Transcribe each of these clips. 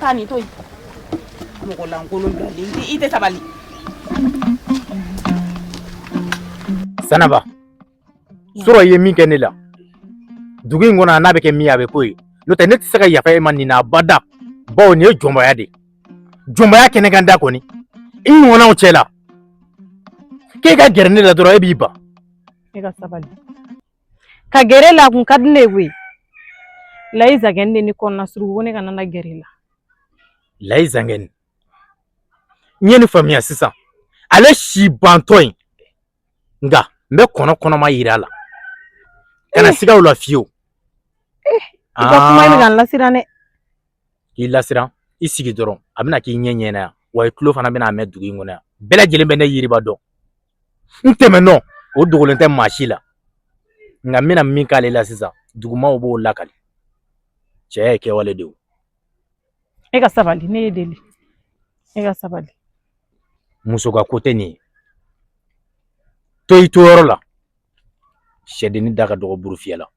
taa nin to yen mɔgɔ lankolon bilalen i tɛ sabali sanaba sɔrɔ i ye min kɛ ne la dugu in kɔnɔ n'a bɛ kɛ min ye a bɛ k'o ye n'o tɛ ne tɛ se ka yafa e ma nin na abada bawo nin ye jɔnbaya de ye jɔnbaya kɛnɛkan da kɔni i ɲɔgɔnnaw cɛ la k'e ka gɛrɛ ne la dɔrɔn e b'i ban e ka sabali ka gɛrɛ la kun ka di ne ye koyi layi zangɛni de ne kɔnɔna suruku ko ne kana na gɛrɛ la layi zangɛni n ye nin faamuya sisan ale si bantɔ in nka n bɛ kɔnɔ kɔnɔma yira a la kana eh. siga o la fiyewu eh, i ka kuma bɛ ka n lasiran dɛ k'i lasiran i sigi dɔrɔn a bɛna k'i ɲɛ ɲɛna yan wa i tulo fana bɛna a mɛn dugu in kɔnɔ yan bɛɛ lajɛlen bɛ ne yiriba dɔn n tɛmɛnɔ o dogolen tɛ maa si la nka n bɛna min k'ale la sisan dugumaw b'o lakali cɛ ye kɛwale de ye e ka sabali ne y'e deli e ka sabali muso ka ko tɛ nin ye to i to yɔrɔ la sɛdenni da ka dɔgɔ burufiyɛ la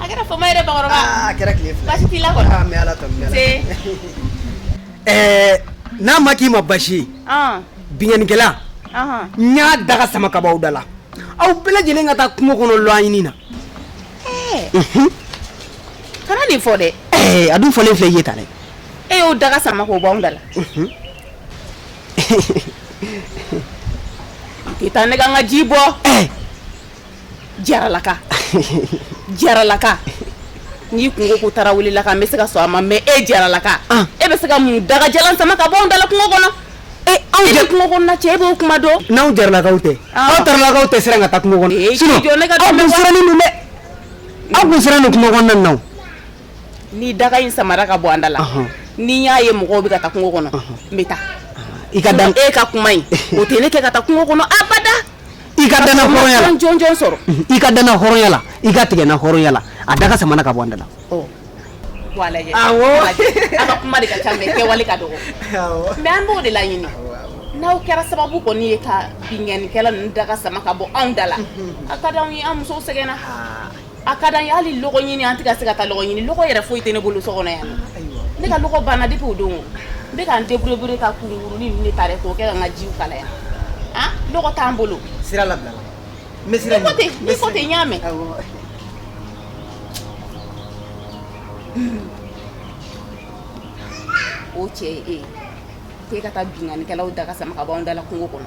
A kɛra fama yɛrɛ bakɔrɔba a kɛra tile fila basi t'i la kɔni aa n bɛ ala tanu ɛɛ n'a ma k'i ma basi ye binkanikɛla n y'a daga sama ka b'aw da la aw bɛɛ lajɛlen ka taa kungo kɔnɔ lɔgɔ ɲini na kana nin fɔ dɛ a dun fɔlen filɛ i ye tan dɛ e y'o daga sama k'o b'anw da la i taa ne ka n ka ji bɔ jaralaka jaralaka n'i kun ko ko tarawelelaka n bɛ se ka sɔn a ma mɛ e jaralaka e bɛ se ka mun daga jalan sama ka bɔ an da la kungo kɔnɔ e anw jɛ kungo kɔnɔ cɛ e b'o kuma dɔn n'anw jaralakaw tɛ aw tarawelelakaw tɛ siran ka taa kungo kɔnɔ e sinon jɔ ne ka aw kun sirannen don dɛ aw kun sirannen don kungo kɔnɔna nin na o ni daga in samara ka bɔ an da la ni n y'a ye mɔgɔw bɛ ka taa kungo kɔnɔ n bɛ taa i ka dan e ka kuma in o tɛ ne kɛ ka taa kungo kɔnɔ abada i ka dana hɔrɔnya la jɔn jɔn sɔrɔ i ka dana hɔrɔnya la i ka tigɛ na hɔrɔnya la a daga samana ka bɔ an da la wa a lajɛ awɔ a ka kuma de ka ca mɛ kɛwale ka dɔgɔ mɛ an b'o de laɲini n'aw kɛra sababu kɔni ye ka binkanikɛla ninnu daga sama ka bɔ anw da la a ka di anw ye an musow sɛgɛnna a ka d'an ye hali lɔgɔ ɲini an tɛ se ka taa lɔgɔ ɲini lɔgɔ yɛrɛ foyi tɛ ne bolo so kɔnɔ yan ne ka lɔgɔ banna depuis o don n bɛ ka n deburuye ka kurukuru ninnu ta k'o kɛ ka n ka ji kalaya lɔgɔ t'an bolo sira la tɛ n y'a mɛn o cɛ e k'e ka taa binkanikɛlaw daga sama ka bɔ an da la kungo kɔnɔ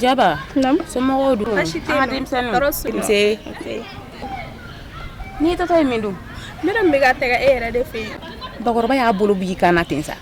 Jaba somɔgɔw dun n'i taatɔ ye min dun n bɛ ka taga e yɛrɛ de fɛ yen bakɔrɔba y'a bolo bi i kana na ten sa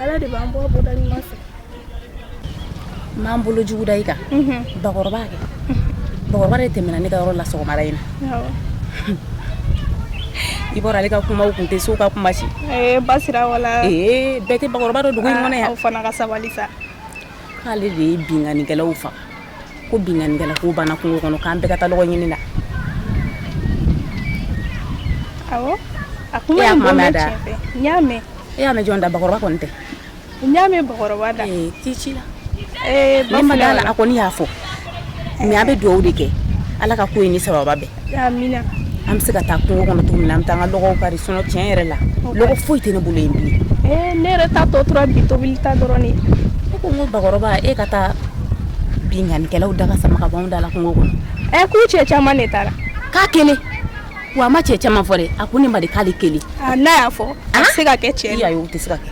ala de b'an bɔ bɔda ɲuman fɛ m'an bolo jugu da i kan bakɔrɔba kɛ bakɔrɔba de tɛmɛna ne ka yɔrɔ la sɔgɔmada in na i bɔra ale ka kumaw kun tɛ so ka kuma si basira wala bɛɛ tɛ bakɔrɔba dɔn dugu in kɔnɔ yan aw fana ka sabali sa k'ale de ye binkanikɛlaw faga ko binkanikɛla ko banna kungo kɔnɔ k'an bɛɛ ka taa lɔgɔ ɲini na awɔ n y'a mɛn e y'a mɛn jɔn da bakɔrɔba kɔni tɛ n y'a mɛn bakɔrɔba da tɛ ci la ne ma da a la a kɔni y'a fɔ mais an bɛ dugawu de kɛ ala ka ko ye ni saba bɛɛ an bɛ se ka taa kungo kɔnɔ tuguni min na an bɛ taa an ka lɔgɔ kari sinon tiɲɛ yɛrɛ la lɔgɔ foyi tɛ ne bolo yen bilen ne yɛrɛ ta tɔ tora bi tobili ta dɔrɔn de ne ko n ko bakɔrɔba e ka taa binkanikɛlaw daga sama ka bɔ an da la kungo kɔnɔ ɛ k'u cɛ caman de taara k'a kelen wa a ma cɛ caman fɔ dɛ a ko ne ma de k'ale kelen n'a y'a fɔ a tɛ se ka kɛ tiɲɛ ye o tɛ se ka kɛ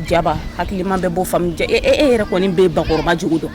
jaba hakilima bɛɛ b'o faamu e yɛrɛ kɔni bɛ bakɔrɔba jugu dɔn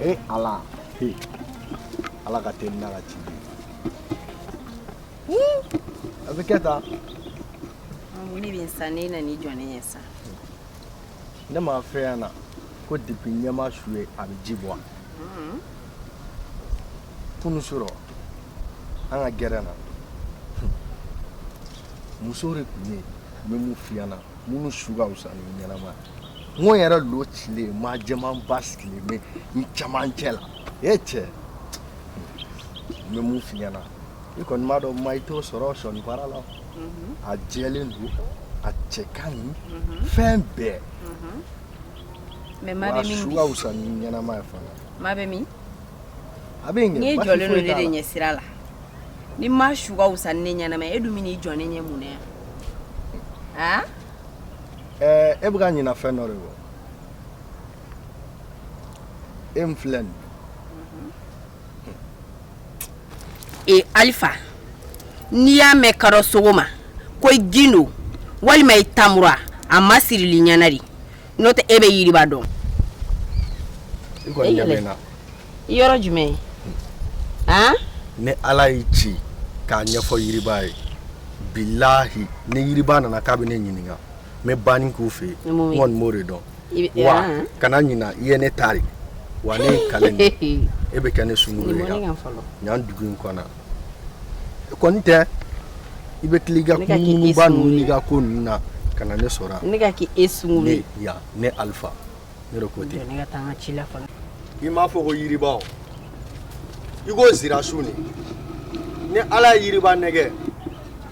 Ee ala ala ka teli n'a ka ci a bɛ kɛ tan ne bɛ san ne nana i jɔ ne ɲɛ sa ne m'a f'i ɲɛna ko depi ɲɛ ma su ye a bɛ ji bɔ kunu surɔ an ka gɛrɛn na muso de tun bɛ yen n bɛ mun f'i ɲɛna minnu su ka fisa ni ɲɛnama ye n ko n yɛrɛ lo cilen maa jɛmanba sigilen bɛ n camancɛ la e cɛ n bɛ mun f'i ɲɛna i kɔni b'a dɔn ma i t'o sɔrɔ sɔni baara la a jɛlen don a cɛ ka ɲi fɛn bɛɛ wa su ka fisa ni ɲɛnama ye fana maa bɛ min a bɛ ɲɛ n'i jɔlen don ne de ɲɛ sira la ni maa su ka wusa ni ne ɲɛnama ye, e dun bɛ n'i jɔ ne ɲɛ mun na yan han Ɛɛ, e bɛ ka ɲinɛ fɛn dɔ de kɔ e min filɛ nin e alifa n'i y'a mɛn kadɔ sogo ma ko i gindo walima i tamura a ma sirili ɲɛna de n'o tɛ e bɛ yiriba dɔn yɔrɔ jumɛn ne ala y'i ci k'a ɲɛfɔ yiriba ye bilahi ni yiriba nana k'a bɛ ne ɲininka n bɛ banni k'u fɛ yen n kɔni b'o de dɔn wa kana ɲina i ye ne tari wa ne ye n kali e bɛ kɛ ne sungurun ye yan dugu in kɔnɔ kɔni tɛ i bɛ tila ka kunba ninnu ka ko ninnu na ka na ne sɔrɔ ne ka k' e sun ne ne alifa ne ko tɛ ci la i m'a fɔ ko yiriba i ko sira sun de ni ala ye yiriba nɛgɛ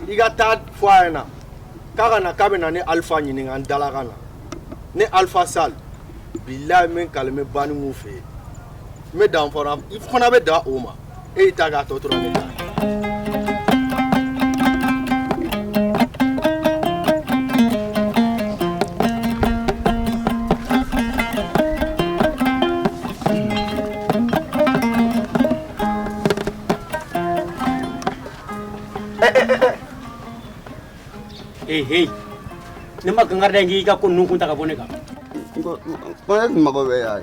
i ka taa fɔ a ɲɛna k'a ka na k'a bɛ na ne alifa ɲininka n dala ka na ne alifa sali bilayi min kalime banni fɛ yen n bɛ dan fana i fana bɛ dan o ma e y'i ta k'a tɔ tora ne ta ye. Hey, hey. Ne ma kankari da n k'i ka ko ninnu kun ta ka bɔ ne kan. Ko ne tun mago bɛ yan.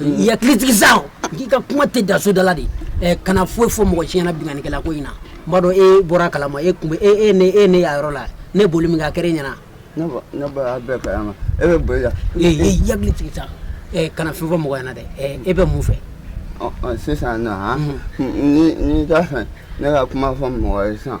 I hakili sigi sa k'i ka kuma tɛ dan soda la dɛ kana foyi fɔ mɔgɔ si ɲɛna binkannikɛla ko in na maa dɔ bɔra a kala ma k'e tun bɛ ne e ne yɔrɔ la ne boli min ka kɛ ɲɛna i hakili sigi sa kana fɛn fɔ mɔgɔ ɲɛna dɛ e bɛ mun fɛ sisan na fɛ ne ka kuma fɔ mɔgɔ ye sisan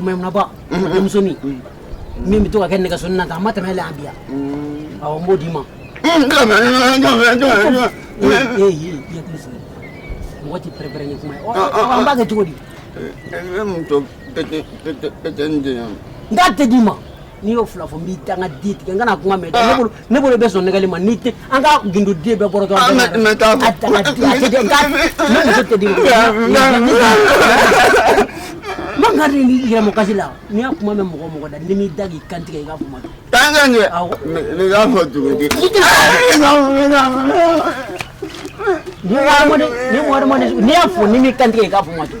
mayimuna ba denmusonin min bɛ to ka kɛ nɛgɛso na ta a ma tɛmɛ a bɛ yan awɔ n b'o d'i ma mɔgɔ tɛ pɛrɛnpɛrɛn ni kuma an b'a kɛ cogo di n t'a d'i ma n'i y'o fila fɔ n b'i danga di tigɛ n kana kuma mɛn ne bolo bɛ sɔn nɛgɛli ma n'o tɛ an ka gundo de bɛ bɔrɔtɔ ah, mais mais taa fɔ ne muso tɛ di ma man ka ni yɛrɛmɔ kasi la ni n y'a kuma mɛn mɔgɔ o mɔgɔ da ni n m'i da k'i kan tigɛ i ka kuma dɔn taa n ka ɲɛ ne k'a fɔ cogo di n'i y'a fɔ ni n m'i kan tigɛ i ka kuma dɔn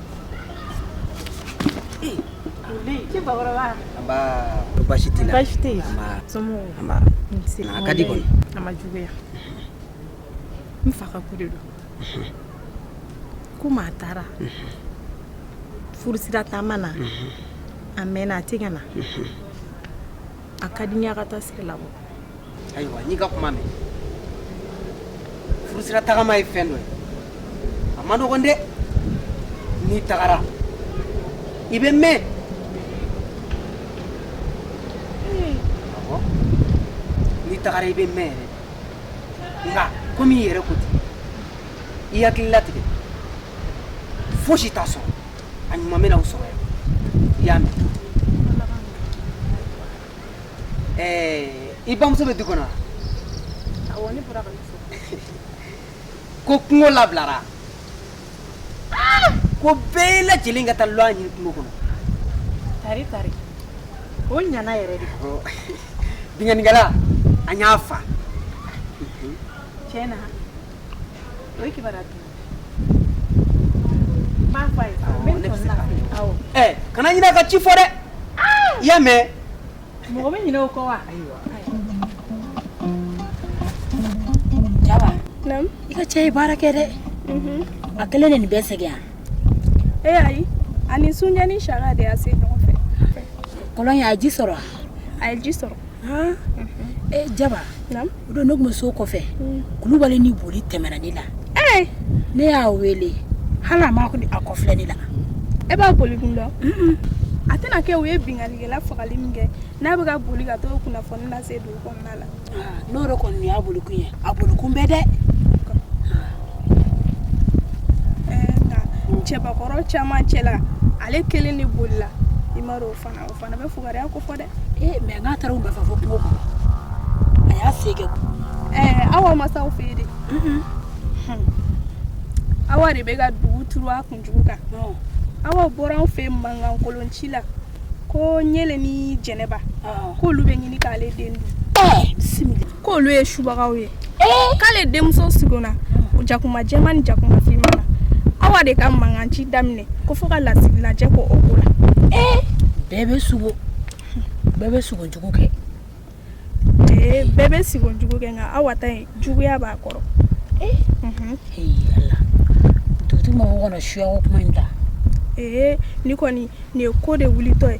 basi tɛ basi tɛ yen a ka di kɔni a ma juguya n fa ka ko de don komi a taara furusira taama na a mɛɛnna a tɛ ka na a ka di n ye ka taa sira labɔ ayiwa n y'i ka kuma mɛn furusira tagama ye fɛn dɔ ye a ma nɔgɔn dɛ n'i tagara i bɛ mɛɛn n'i tagara i bɛ mɛɛn yɛrɛ nka komi i yɛrɛ ko ten i hakili latigɛ fosi t'a sɔrɔ a ɲuman bɛna aw sɔrɔ yan i y'a mɛn ɛɛ i bamuso bɛ du kɔnɔ wa awɔ ne bɔra ka min fɔ ko kungo labilara ko bɛɛ lajɛlen ka taa lɔgɔ ɲini kungo kɔnɔ tari tari o ɲana yɛrɛ dɛ Ɔ, binkannikɛla an y'a faga tiɲɛ na o ye kibaruya duman kana ɲinɛ ka ci fɔ dɛ i y'a mɛn mɔgɔ bɛ ɲinɛ o kɔ wa jaba i ka cɛ ye baara kɛ dɛ mhm. a kelen de nin bɛɛ sɛgɛn yan ee ayi a ni sunjɛ ni saka de y'a sen ɲɔgɔn fɛ kɔlɔn ye a ye ji sɔrɔ a ye ji sɔrɔ E jaba o don ne tun bɛ so kɔfɛ kulubali ni boli tɛmɛna ne la ne y'a wele hali a ma a kɔfilɛ ne la e b'a boli kun dɔn a tɛna kɛ u ye binkannikɛla fagali min kɛ n'a bɛ ka boli ka t'o kunnafoni lase dugu kɔnɔna la n'o yɛrɛ kɔni y'a boli kun ye a boli kun bɛ dɛ cɛbakɔrɔ caman cɛ la ale kelen de bolila i m'a dɔn o fana Fana bɛ fugariya kofɔ dɛ ee mɛ nka a taara u bɛɛ fɛ fo kungo kɔnɔ a y'a se kɛ ɛɛ awa ma sa aw fɛ yen dɛ awa de bɛ ka dugu turu a kunjugu kan awa bɔra anw fɛ mankankolon ci la ko ɲɛlen ni jɛnɛba k'olu bɛ ɲini k'ale den dun bisimila ko olu ye subagaw ye eh! k'ale denmuso sigona jakuma jɛman ni jakuma finman na awa de ka mankan ci daminɛ ko fo ka lasigilajɛ kɛ o ko la eh! bɛɛ bɛ sugo bɛɛ bɛ sugo jugu kɛ ee eh, bɛɛ bɛ sigo jugu kɛ nka awa ta in juguya b'a kɔrɔ mhm. ala dugutigi mɔgɔw kana suya ko kuma in ta ee nin kɔni nin ye ko de wulitɔ ye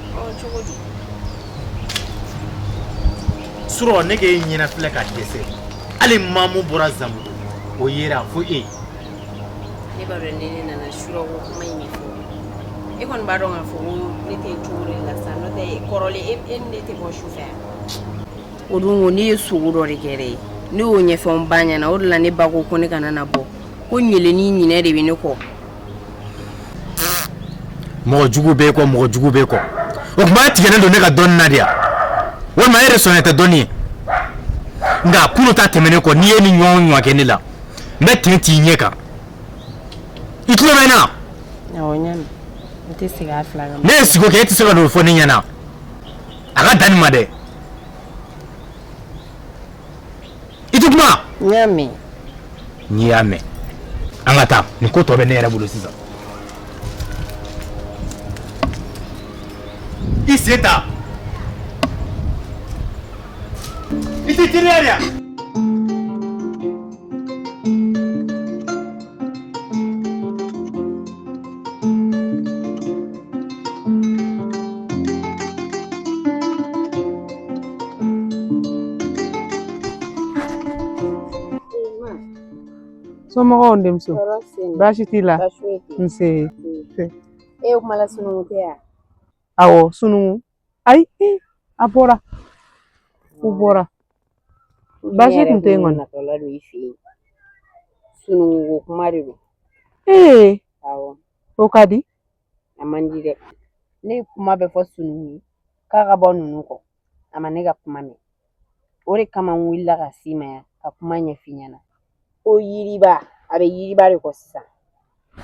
surɔ ne k'i ɲɛna filɛ ka dɛsɛ hali mamu bɔra zan o yɛrɛ y'a fɔ e ne b'a dɔn ne nana surɔ ko kuma in fɔ e kɔni b'a dɔn k'a fɔ ne tɛ cogo la sa n'o tɛ kɔrɔlen e, e ne tɛ bɔ su fɛ o don ne ye sugo dɔ de kɛ dɛ ne y'o ɲɛfɔ n ba ɲɛna o de la ne ba ko ko ne kana na bɔ ko ɲɛlen ni ɲinɛ de bɛ ne kɔ mɔgɔjugu b'e kɔ mɔgɔjugu b'e kɔ o kuma tigɛlen don ne ka dɔn nadiya walima yɛrɛ sɔn tɛ dɔnni nka kunun ta tɛmɛnnen kɔ n'i ye nin ɲɔgɔn ɲɔgɔn kɛ ne la n bɛ ten t'i ɲɛ kan i tulo bɛ n na n'e ye sigo kɛ e tɛ se ka dɔ fɔ ne ɲɛna a ka dan ma dɛ i tɛ kuma n y'a mɛn n y'a mɛn an ka taa nin ko tɔ bɛ ne yɛrɛ bolo sisan i sen ta i tɛ teliya de yan somɔgɔw n denmuso baasi t'i la nse e ye kuma la sununkun tɛ yan awɔ sununkun ayi a bɔra u bɔra baasi tun tɛ yen kɔni natɔla don i fɛ yen sununkun kuma de don ee awɔ o ka di a man di dɛ ne ye kuma bɛɛ fɔ sununkun ye k'a ka bɔ ninnu kɔ a ma ne ka kuma mɛn o de kama n wulila ka s'i ma yan ka kuma ɲɛf'i ɲɛna ko yiriba a bɛ yiriba de kɔ sisan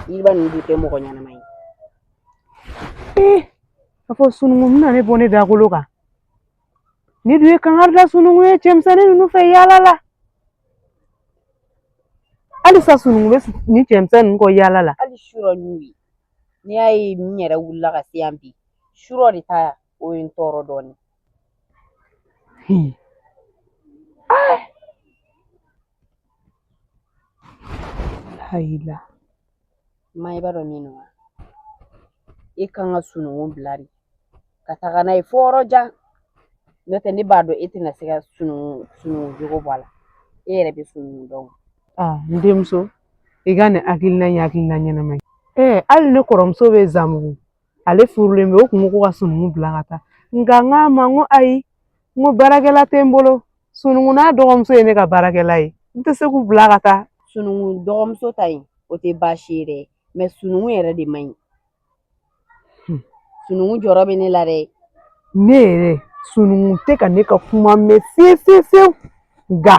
yiriba ninnu dun tɛ mɔgɔ ɲɛnama ye ee a fɔ sununkun bɛna ne bɔ ne dakolo kan ne dun ye kankari da sununkun ye cɛmisɛnnin ninnu fɛ yaala la halisa sununkun bɛ nin cɛmisɛn ninnu kɔ yaala la hali surɔ n'u ye n'i y'a ye n yɛrɛ wulila ka se yan bi surɔ de ta o ye n tɔɔrɔ dɔɔnin Hayila ma i b'a dɔn min wa e kan ka sunungun bila de ka taga n'a ye fo yɔrɔ jan n'o tɛ ne b'a dɔn e tɛna se ka sunungun jogo bɔ a la e yɛrɛ bɛ sunungun dɔn n denmuso i ka nin hakilina in ye hakilina ɲɛnama ye hali ne kɔrɔmuso bɛ Zanbugu ale furulen bɛ o kun ko ka sunungun bila ka taa nka n k'a ma n ko ayi n ko baarakɛla tɛ n bolo sunungun n'a dɔgɔmuso ye ne ka baarakɛla ye n tɛ se k'u bila ka taa sunungun dɔgɔmuso ta in o tɛ baasi ye dɛ mɛ sunungun yɛrɛ de man ɲi hmm. sunungun jɔrɔ bɛ ne la dɛ ne yɛrɛ sunungun tɛ ka ne ka kuma mɛn fiyewu fiyewu fiyewu nka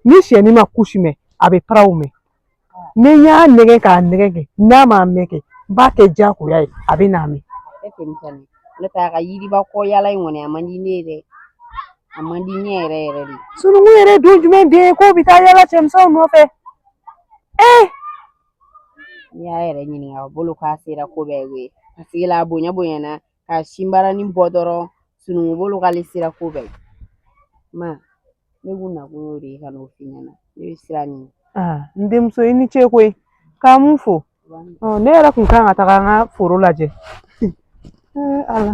ni sɛnin ma kusi mɛn a bɛ paraw mɛn ni n y'a nɛgɛn k'a nɛgɛn kɛ n'a m'a mɛn kɛ n b'a kɛ diyagoya ye a bɛn'a mɛn ne tɛ a ka yiriba kɔ yaala in kɔni a man di ne ye dɛ a man di ne yɛrɛ yɛrɛ de sununkun yɛrɛ ye don jumɛn den ye k'o bɛ taa yaala cɛmisɛnw nɔfɛ ee n'i y'a yɛrɛ ɲininka a bolo k'a sera ko bɛɛ ye koyi paseke la a bonya bonyana ka sinbaranin bɔ dɔrɔn sununkun bolo k'ale sera ko bɛɛ ye ma ne kun nakun y'o de ye ka n'o f'i ɲɛna ne bɛ sira ɲini n denmuso i ni ce koyi k'an b'u fo ne yɛrɛ kun kan ka taga an ka foro lajɛ ala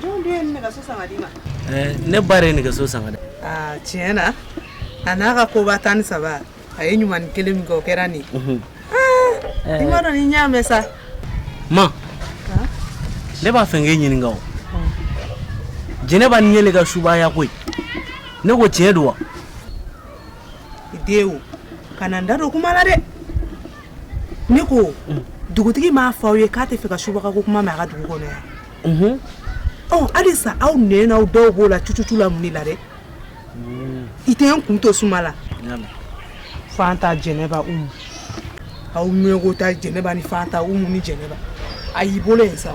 Jɔn dun ye nɛgɛso san k'a d'i ma? Ɛɛ ne ba de ye nɛgɛso san k'a di yan. Aa tiɲɛ na a n'a ka koba tan ni saba a ye ɲuman kelen min kɛ o kɛra nin ye. Aa i m'a dɔn ni n y'a mɛn sa. Ma ne b'a fɛ k'e ɲininka o Jɛnɛba ni Ɲelen ka subaya ko in ne ko tiɲɛ don wa? E den o kana n da don kuma la dɛ. ne ko dugutigi m'a fɔ aw ye k'a tɛ fɛ ka subaga ko kuma mɛn a ka dugu kɔnɔ yan halisa aw nɛn n'aw dɔw b'o la cucucu la mun de la dɛ i tɛ n kun to suma la fanta jɛnɛba umu aw mɔgɔ ta jɛnɛba ni fanta umu ni jɛnɛba a y'i bolo yen sa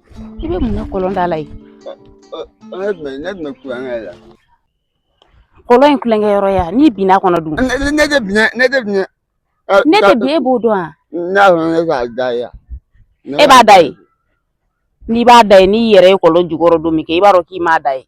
i bɛ mun na kɔlɔn da la yen ne tun bɛ ne tun bɛ tulonkɛ la kɔlɔn ye tulonkɛ yɔrɔ ye wa n'i binna kɔnɔ dun ne ne- ne tɛ bin ne tɛ bin Ɛ, ne ka- tɛ bin e b'o dɔn wa n'a sɔrɔ ne b'a da ye yan. Ne e b'a da ye n'i b'a da ye n'i yɛrɛ ye kɔlɔn jukɔrɔ don min kɛ i b'a dɔn k'i m'a da ye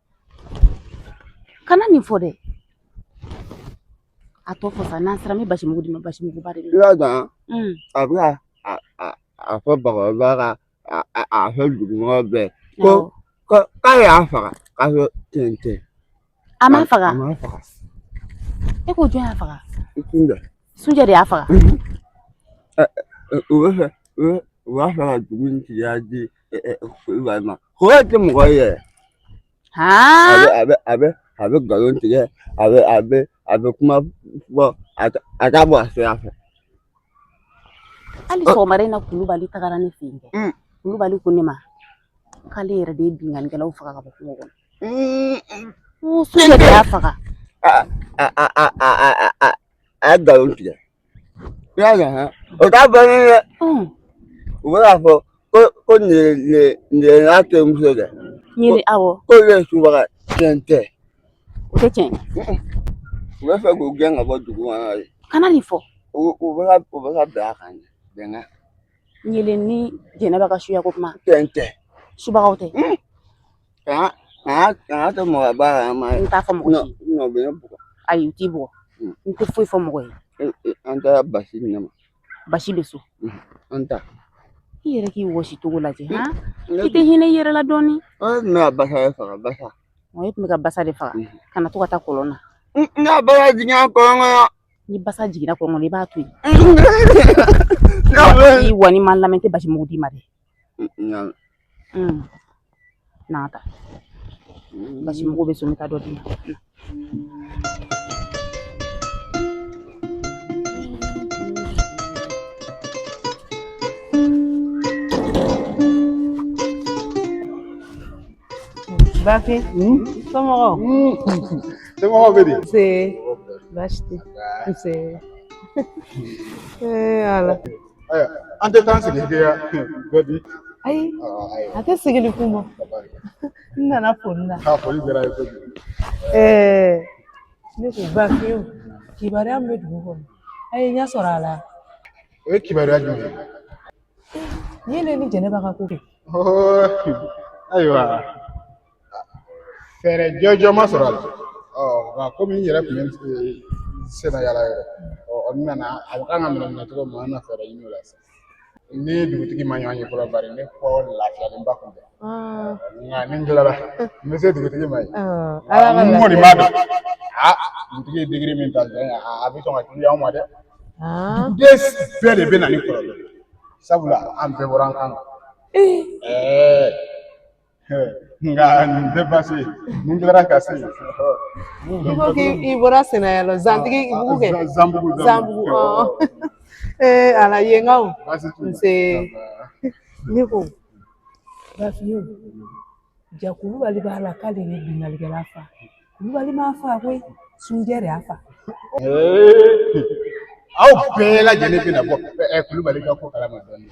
kana nin fɔ dɛ a tɔ fɔ sa n'an sera n bɛ basi mugu d'i ma basi mugu ba de i y'a dɔn a bɛ ka a a a fɔ bakɔrɔba ka a a a fɔ dugumɔgɔ bɛɛ ko ko k'a y'a faga k'a fɔ tiɲɛ tɛ a m'a faga a m'a faga e ko jɔn y'a faga sunjɛ sunjɛ de y'a faga u bɛ fɛ u b'a fɛ ka dugu in tigiya di ko tɛ mɔgɔ ye yɛrɛ a bɛ a bɛ a bɛ nkalon tigɛ a bɛ a bɛ a bɛ kuma fɔ a t'a bɔ a sira fɛ hali sɔgɔmada in na kulubali tagara ne fɛ yen dɛ kulubali ko ne ma k'ale yɛrɛ de ye binkannikɛlaw faga ka bɔ kungo kɔnɔ sunjɛ de y'a faga a ye nkalon tigɛ I y'a dɔn han. O t'a bannen ye. U bɛ k'a fɔ ko ko Ɲelen n'a terimuso de. Ɲelen awɔ. K'olu ye subaga tiɲɛ tɛ. O tɛ tiɲɛ. U bɛ fɛ k'u gɛn ka bɔ dugu kɔnɔ de. Kana nin fɔ. U u bɛ ka u bɛ ka bɛn a kan de. Bɛnkan. Ɲelen ni jɛnɛba ka suya ko kuma. Tiɲɛ tɛ. Subagaw tɛ. Kana kana kana to mɔgɔ bɔ a kala ma n t'a fɔ mɔgɔ ye n'u bɛ ne bugɔ ayi u t'i bugɔ n tɛ foyi fɔ mɔgɔ ye an taara basi di ne ma basi bɛ so an taa i yɛrɛ k'i wɔsi cogo lajɛ han i tɛ hinɛ i yɛrɛ la dɔɔni ne tun bɛ ka basa de faga basa ɔ e tun bɛ ka basa de faga kana to ka taa kɔlɔn na nka basa jiginna kɔlɔn kɔnɔ ni basa jiginna kɔlɔn kɔnɔ i b'a to yen ayiwa n'i ma n lamɛn n tɛ basi mugu d'i ma dɛ Nka n'a ta basimugu bɛ so n ka dɔ di bafi somɔgɔw somɔgɔw bɛ di nse baasi tɛ nse ala Aya, an tɛ taa sigi kɛ yan bɛbi ayi a tɛ sigili kun bɔ n nana foli la k'a foli diyara n ye kojugu ɛɛ ne ko bafi kibaruya min bɛ dugu kɔnɔ a ye ɲɛ sɔrɔ a la o ye kibaruya jumɛn ye nin ye ne ni jɛnɛba ka ko kɛ ayiwa fɛɛrɛ jɔnjɔn ma sɔrɔ a la nka komi n yɛrɛ tun bɛ sennayaala yɛrɛ ɔ n nana a kan ka minɛ minɛ cogo min an na fɛɛrɛ ɲini o la sisan n ni dugutigi ma ɲɔgɔn ye fɔlɔ bari ne kɔ lafiyalenba kun tɛ nka ni n tilala n bɛ se dugutigi ma yen n kɔni b'a dɔn a dugutigi ye digiri min ta dɔrɔn a bɛ sɔn ka gɛlɛya anw ma dɛ duden bɛɛ de bɛ na ni kɔlɔlɔ ye sabula an bɛɛ bɔra an kan na nka nin tɛ baasi ye ni n tilara ka se i ko k'i bɔra sennayaala zantigibugu kɛ zanbugu zanbugu ee ala yenkaw nse ne ko bafi ja kulubali b'a la k'ale ye binkannikɛla fa kulubali m'a fa koyi sunjɛ de y'a fa aw bɛɛ lajɛlen bɛna bɔ kulubali ka ko kalama dɔɔnin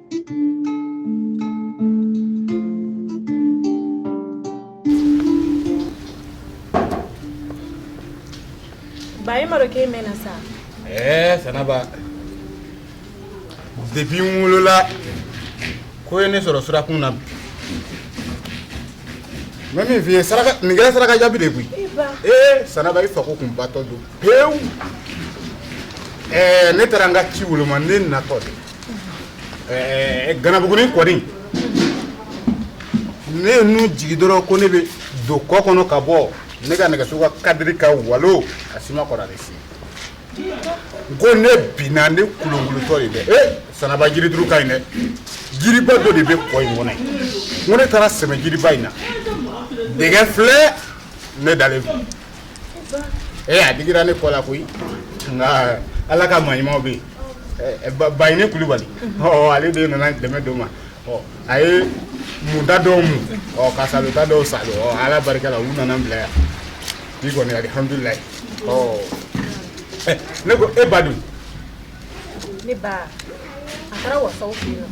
ba e ma dɔn k'e mɛnna sa ɛɛ sanaba depuis n wolola ko ye ne sɔrɔ sirakun na bi n bɛ min f'i ye saraka nin kɛra saraka jaabi de ye koyi ee sanaba i fako kun batɔ don pewu ɛɛ ne taara n ka ci woloma ne natɔ de ɛɛ ganabugunin kɔni ne ye nun jigi dɔrɔn ko ne bɛ don kɔ kɔnɔ ka bɔ ne ka nɛgɛso ka kadiri ka walo a si ma kɔrɔ ale si n ko ne binna ne kulunkulutɔ de dɛ ee sanaba jirituru ka ɲi dɛ jiriba dɔ de bɛ kɔ in kɔnɔ yen n ko ne taara sɛmɛ jiriba in na dɛgɛ filɛ ne dalen filɛ ee a digira ne kɔ la koyi nka ala ka maɲumanw bɛ yen bayini kulubali ale de nana dɛmɛ don n ma a ye munta dɔw mu ka salota dɔw salo ala barika la u nana n bila yan bi kɔni alihamudulila ne ko e ba dun ne ba a taara wasaw fɛ yen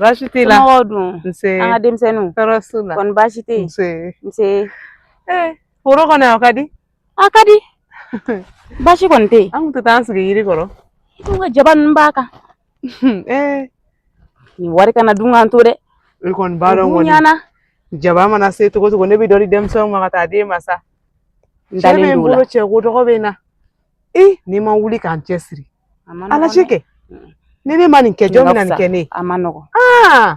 Baasi tɛ la dun an ka denmisɛnninw kɔni baasi tɛ foro kɔnɔna ka di a ka di baasi kɔni tɛ yen an tun tɛ taa an sigi yiri kɔrɔ ka jaba ninnu b'a kan eh. nin wari kana dun k'an to dɛ i kɔni b'a dɔn kɔni jaba mana se cogo cogo ne bɛ dɔ di denmisɛnw ma ka taa d'e ma sa n dalen don o la cɛ ko dɔgɔ bɛ na i n'i ma wuli k'an cɛsiri a la cikɛ ni ne ma nin kɛ jɔn bɛ na nin kɛ ne ye a man nɔgɔn aa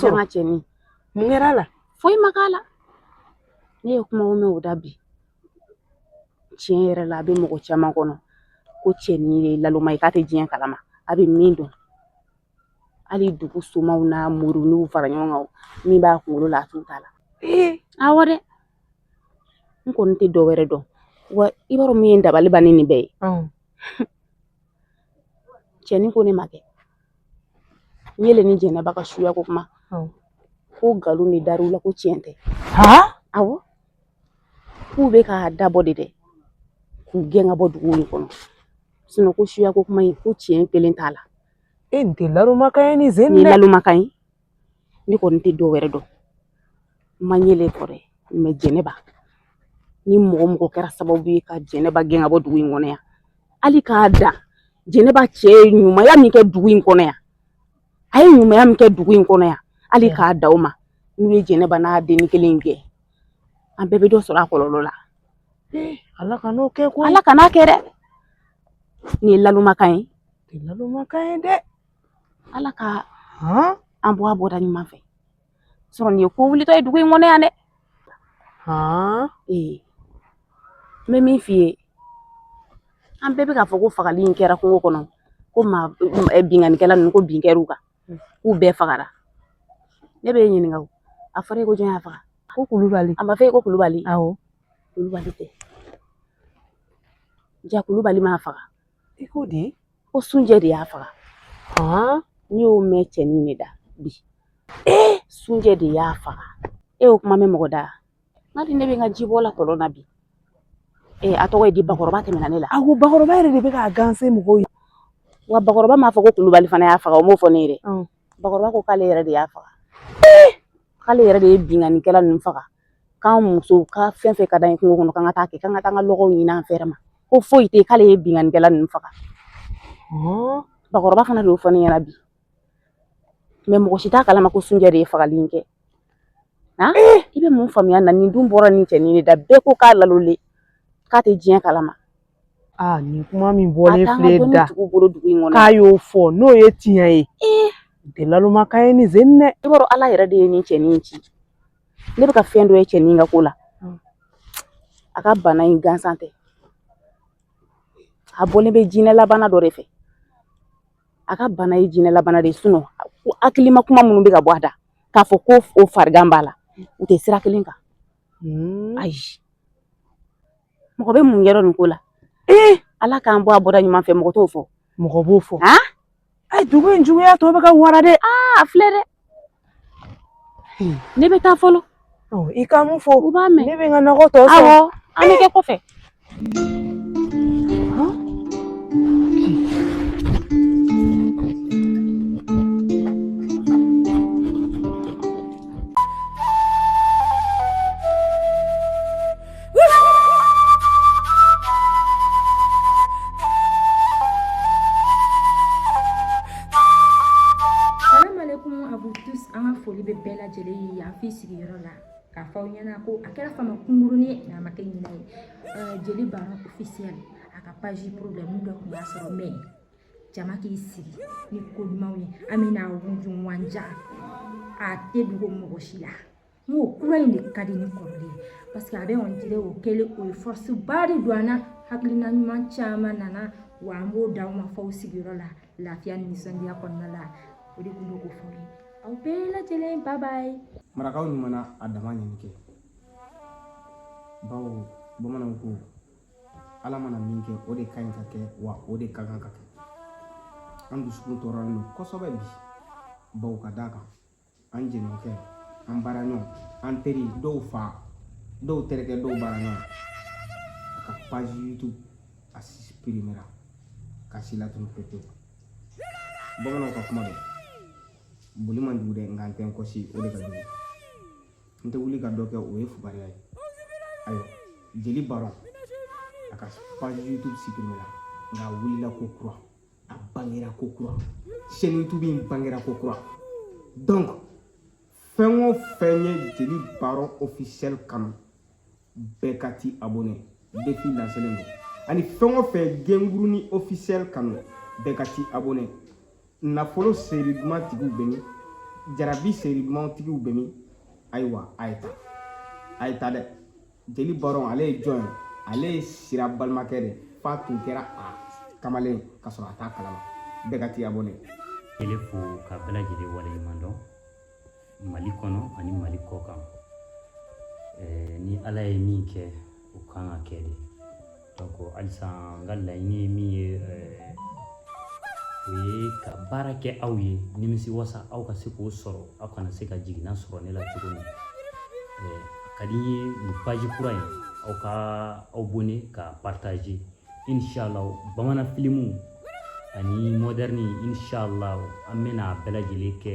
sɔrɔ cɛnin mun kɛr'a la foyi ma k'a la ne ye kuma o mɛn o da bi tiɲɛ yɛrɛ la a bɛ mɔgɔ caman kɔnɔ ko cɛnin ye laloma ye k'a tɛ diɲɛ kalama a bɛ min dɔn hali dugu somaw n'a moriw fara ɲɔgɔn kan min b'a kunkolo la a t'u ta la awɔ dɛ n kɔni tɛ dɔ wɛrɛ dɔn wa i b'a dɔn min ye dabali ban ni nin bɛɛ ye cɛnin ko ne ma kɛ Ɲɛlɛ ni jɛnɛba ka suya ko kuma ko nkalon de dar'u la ko tiɲɛ tɛ awɔ k'u bɛ k'a dabɔ de dɛ k'u gɛn ka bɔ dugu in kɔnɔ sinɔn ko suya ko kuma in ko tiɲɛ kelen t'a la e nin tɛ lalomakan ye nin zen nin ye lalomakan ye ne kɔni tɛ dɔ wɛrɛ dɔn n ma ɲɛlɛ fɔ dɛ mɛ jɛnɛba ni mɔgɔ mɔgɔ kɛra sababu ye ka jɛnɛba gɛn ka bɔ dugu in kɔnɔ yan hali k'a da jɛnɛba cɛ ye ɲumanya min kɛ dugu in kɔnɔ yan a ye ɲumanya min kɛ dugu in kɔnɔ yan hali k'a da o ma n'u ye jɛnɛba n'a den kelen in gɛn an bɛɛ bɛ dɔ sɔrɔ a kɔlɔlɔ la ala kan'o kɛ ko ala kan'a kɛ dɛ nin ye lalomakan ye nin ye lalomakan ye dɛ ala ka an bɔ a bɔda ɲuman fɛ sɔrɔ nin ye ko wulitɔ ye dugu in kɔnɔ yan dɛ ee n bɛ min f'i ye an bɛɛ bɛ k'a fɔ ko fagali in kɛra kungo kɔnɔ ko maa binkannikɛla ninnu ko bin kɛr'u kan k'u bɛɛ fagara ne b'e ɲininka o a fɔra e ko jɔn y'a faga ko kulubali a ma fɔ e ko kulubali awɔ kulubali tɛ ja kulubali m'a faga I ko di ko sunjɛ de y'a faga n y'o mɛn cɛnin de da bi ee sunjɛ de y'a faga e y'o kuma mɛn mɔgɔ da n'a di ne bɛ n ka jibɔ la kɔlɔn na bi ee a tɔgɔ ye di bakɔrɔba tɛmɛna ne la a ko bakɔrɔba yɛrɛ de bɛ k'a ganse mɔgɔw ye wa bakɔrɔba m'a fɔ ko kulubali fana y'a faga o m'o fɔ ne ye dɛ bakɔrɔba ko k'ale yɛrɛ de y'a faga k'ale yɛrɛ de ye binkannikɛla ninnu faga k'an musow ka fɛn fɛn ka d'an ye kungo kɔnɔ k'an ka taa kɛ k'an ka taa an ka lɔgɔw ɲini an fɛrɛ ma ko foyi tɛ k'ale ye binkannikɛla ninnu faga bakɔrɔba fana de y'o fɔ ne ɲɛna bi mɛ mɔgɔ si t'a kalama ko sunjɛ de ye fagali in kɛ i bɛ mun faamuya na nin dun bɔra nin cɛnin de da bɛɛ ko k'a lalolen k'a tɛ diɲɛ kalama nin kuma min bɔlen filɛ da k'a y'o fɔ n'o ye tiɲɛ ye o tɛ laloma kan ye nin sen dɛ i b'a dɔn ala yɛrɛ de ye nin cɛnin in ci ne bɛ ka fɛn dɔ ye cɛnin ka ko la a ka bana in gansan tɛ a bɔlen bɛ jinɛlabana dɔ de fɛ a ka bana ye jinɛlabana de ye sinon hakilima kuma minnu bɛ ka bɔ a da k'a fɔ ko o farigan b'a la u tɛ sira kelen kan ayi mɔgɔ bɛ mun yɔrɔ nin ko la ee ala k'an bɔ a bɔda ɲuman fɛ mɔgɔ t'o fɔ mɔgɔ b'o fɔ a ayi dugu in juguya tɔ bɛ ka wara dɛ aa filɛ dɛ hmm. ne bɛ taa fɔlɔ i ka mun fɔ u b'a mɛn ne bɛ n ka nɔgɔ tɔ sɔrɔ awɔ an bɛ kɛ kɔfɛ fɔ aw ɲɛna ko a kɛra fama kunkurunin ye nka a ma kɛ ɲinɛ ye jeli baron officiel a ka page problème dɔ tun y'a sɔrɔ mɛ jama k'i sigi ni ko ɲumanw ye an bɛna wujunwanja a tɛ dogo mɔgɔ si la n ko kura in de ka di ni kɔrɔlen ye parce que a bɛ comme on dirait o kɛlen o ye force ba de don an na hakilina ɲuman caman nana wa an b'o d'aw ma f'aw sigiyɔrɔ la lafiya ni nisɔndiya kɔnɔna la o de tun bɛ k'o fɔ ye aw bɛɛ lajɛlen bye bye marakaw ɲuman na a dama ɲini kɛ bawo bamananw ko ala mana min kɛ o de ka ɲi ka kɛ wa o de ka kan ka kɛ an dusukun tɔɔrɔlen don kosɛbɛ bi bawo ka d'a kan an jɛɲɔgɔnkɛ an baaraɲɔgɔn an teri dɔw fa dɔw terikɛ dɔw baaraɲɔgɔn a ka page youtube a suprimera ka si latunu pepewu bamananw ka kuma don boli man jugu dɛ nka n tɛ n kɔsi o de ka jugu n tɛ wuli ka dɔ kɛ o ye fugariya ye ayiwa jeli baron a ka page youtube suprimera nka a wulila kokura a bangera ko kura chaîne YouTube in bangera ko kura donc fɛn o fɛn ye jeli baron officiel kanu bɛɛ ka t'i abonné défi lancélen don ani fɛn o fɛn gengurunin officiel kanu bɛɛ ka t'i abonné nafolo série duman tigiw bɛ min jarabi série duman tigiw bɛ min ayiwa a ye taa a ye taa dɛ jeli baron ale ye jɔn ye ale ye sira balimakɛ de f'a tun kɛra a kamalen ka sɔrɔ a t'a kalama bɛɛ ka t'i abonné ele fo ka bɛɛ lajɛlen waleɲuman dɔn mali kɔnɔ ani mali kɔ kan ni ala ye min kɛ o kan ka kɛ de halisa n ka laɲini ye min ye o ye ka baara kɛ aw ye nimisi wasa aw ka se k'o sɔrɔ aw kana se ka jiginna sɔrɔ ne la cogo min ka di n ye nin page kura in aw ka aw abonné ka partager inshallah bamanan filimu ani moderne inshallah an bɛna bɛɛ lajɛlen kɛ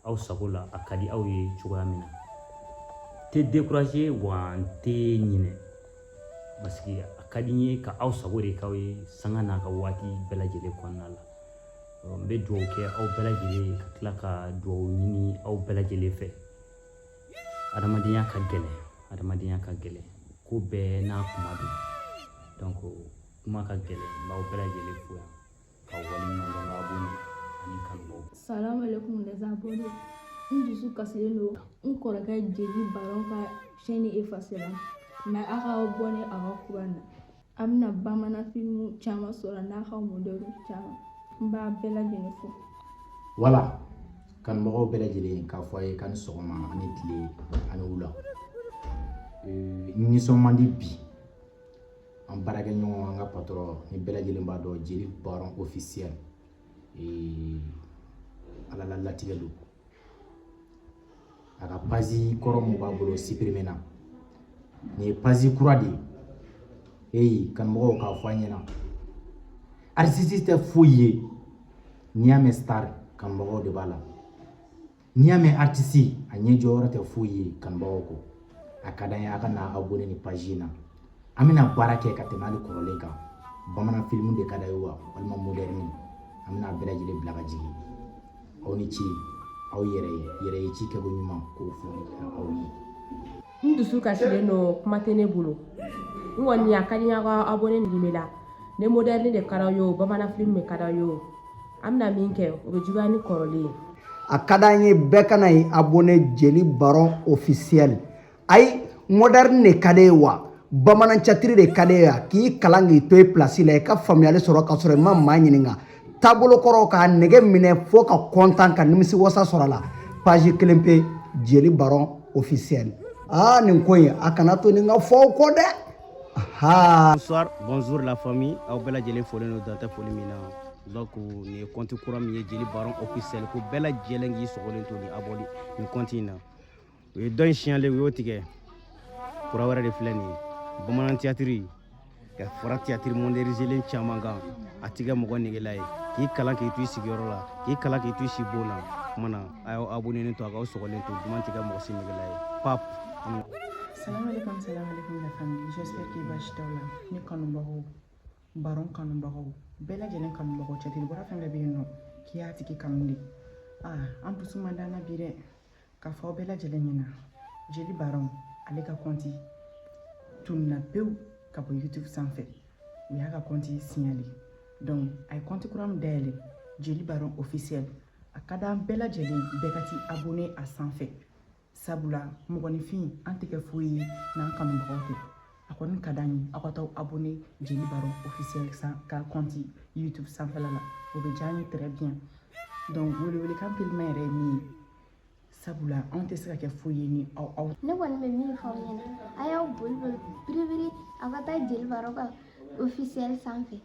aw sago la a ka di aw ye cogoya min na n tɛ décourager wa n tɛ ɲinɛ parce que a ka di n ye ka aw sago de k'aw ye sanga n'a ka waati bɛɛ lajɛlen kɔnɔna la n bɛ dugawu kɛ aw bɛɛ lajɛlen ye ka tila ka dugawu ɲini aw bɛɛ lajɛlen fɛ adamadenya ka gɛlɛn adamadenya ka gɛlɛn ko bɛɛ n'a tuma don donc kuma ka gɛlɛn n b'aw bɛɛ lajɛlen fo yan ka waleɲuman dɔn abonnés ani kanubaw salamu alaikum les abonnés n dusu kasilen don n kɔrɔkɛ jeli baron ka chaîne effacéra mais a ka abonné a ka kura na a bɛna bamanan filimu caman sɔrɔ n'a ka modernew caman n b'a bɛɛ lajɛlen fo voilà kanubagaw bɛɛ lajɛlen k'a fɔ a ye k'a ni sɔgɔma a ni tile a ni wula Ee, n nisɔn man di bi an baarakɛ ɲɔgɔn an ka patron ni bɛɛ lajɛlen b'a dɔn jeli baron officiel ala la latigɛ don a ka page kɔrɔ min b'a bolo suppriména nin ye page kura de ye eyi kanumɔgɔw k'a fɔ an ɲɛna artiste tɛ foyi ye n'i y'a mɛn star kanumɔgɔw de b'a la n'i y'a mɛn artiste a ɲɛ jɔyɔrɔ tɛ foyi ye kanubagaw kɔ a ka d'an ye a ka na abonné nin page in na an bɛna baara kɛ ka tɛmɛ hali kɔrɔlen kan bamanan filimu de ka d'a ye wa walima moderne an bɛna bɛɛ lajɛlen bila ka jigin aw ni ce aw yɛrɛ ye yɛrɛ ye ci kɛko ɲuman k'o fɔ aw ye n dusu kasilen don kuma tɛ ne bolo n kɔni a ka di n y'aw ka abonné nin bɛ la ne moderne de ka d'aw ye o bamanan film de ka d'aw ye o an bɛna min kɛ o bɛ juguya ni kɔrɔlen ye a ka d'an ye bɛɛ ka na i abonné jeli baron officiel ayi moderne de ka d'e ye wa bamanan théâtre de ka d'e ye wa k'i kalan k'i to i place la i ka faamuyali sɔrɔ ka sɔrɔ i ma maa ɲininka taabolo kɔrɔ k'a nege minɛ fo ka kɔntan ka nimisi wasa sɔrɔ a la page kelen pe jeli baron officiel aa nin ko in a kana to nin ka fɔ aw kɔ dɛ bonsoir bonjour la famille aw bɛɛ lajɛlen folen don dan tɛ foli min na donc nin ye kɔnti kura min ye jeli baron officiel ko bɛɛ lajɛlen k'i sɔgɔlen to ni abonné nin kɔnti in na u ye dɔ in siɲale u y'o tigɛ kura wɛrɛ de filɛ nin ye bamanan tiyatiri ka fara tiyatiri modɛrinizelen caman kan a tɛ kɛ mɔgɔ negela ye k'i kalan k'i to i sigiyɔrɔ la k'i kalan k'i to i sibon na kuma na a y'aw abonenen to a k'aw sɔgɔlen to duman tɛ kɛ mɔgɔ si negela ye pap Salam alaikum, salam alaikum la famille. J'espère que baasi t'aw la. Ne kanubagaw, baron kanubagaw, bɛɛ lajɛlen kanubagaw tiyatiri bɔla fɛn bɛɛ bɛ yen nɔ k'i y'a tigi kanu de. Aa, an dusu man d'an na bi dɛ. k'a fɔ aw bɛɛ lajɛlen ɲɛna jeli baron ale ka kɔnti tununa pewu ka bɔ youtube sanfɛ u y'a ka kɔnti siɲale donc a ye kɔnti kura min dayɛlɛ jeli baron officiel a ka d'an bɛɛ lajɛlen bɛɛ ka t'i abone a sanfɛ sabula mɔgɔninfin an tɛ kɛ foyi ye n'an kanubagaw tɛ a kɔni ka d'an ye aw ka taa abonné jeli baron officiel ka kɔnti youtube sanfɛla la o bɛ diya an ye très bien donc welewelekan teliman yɛrɛ ye nin ye sabula anw tɛ se ka kɛ foyi ye ni aw aw ne kɔni bɛ min fɔ aw ɲɛna a y'aw boli boli biribiri aw ka taa jeli baron ka officiel sanfɛ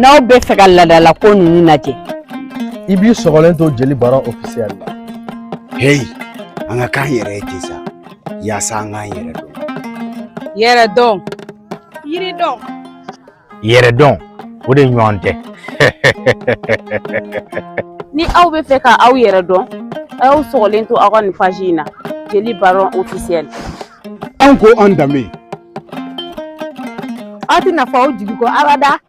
n'aw bɛ fɛ ka laadalako ninnu lajɛ i b'i sɔgɔlen to jeli baron ofisiyɛli la heyi an ka k'an yɛrɛ ye ten sa yaasa an k'an yɛrɛ dɔn yɛrɛ dɔn yiri dɔn yɛrɛ dɔn o de ɲɔgɔn tɛ ni aw bɛ fɛ ka aw yɛrɛ dɔn a y'aw sɔgɔlen to aw ka nin page in na jeli baron ofisiyɛli an ko an danbe aw tɛna fɔ aw jigi kɔ abada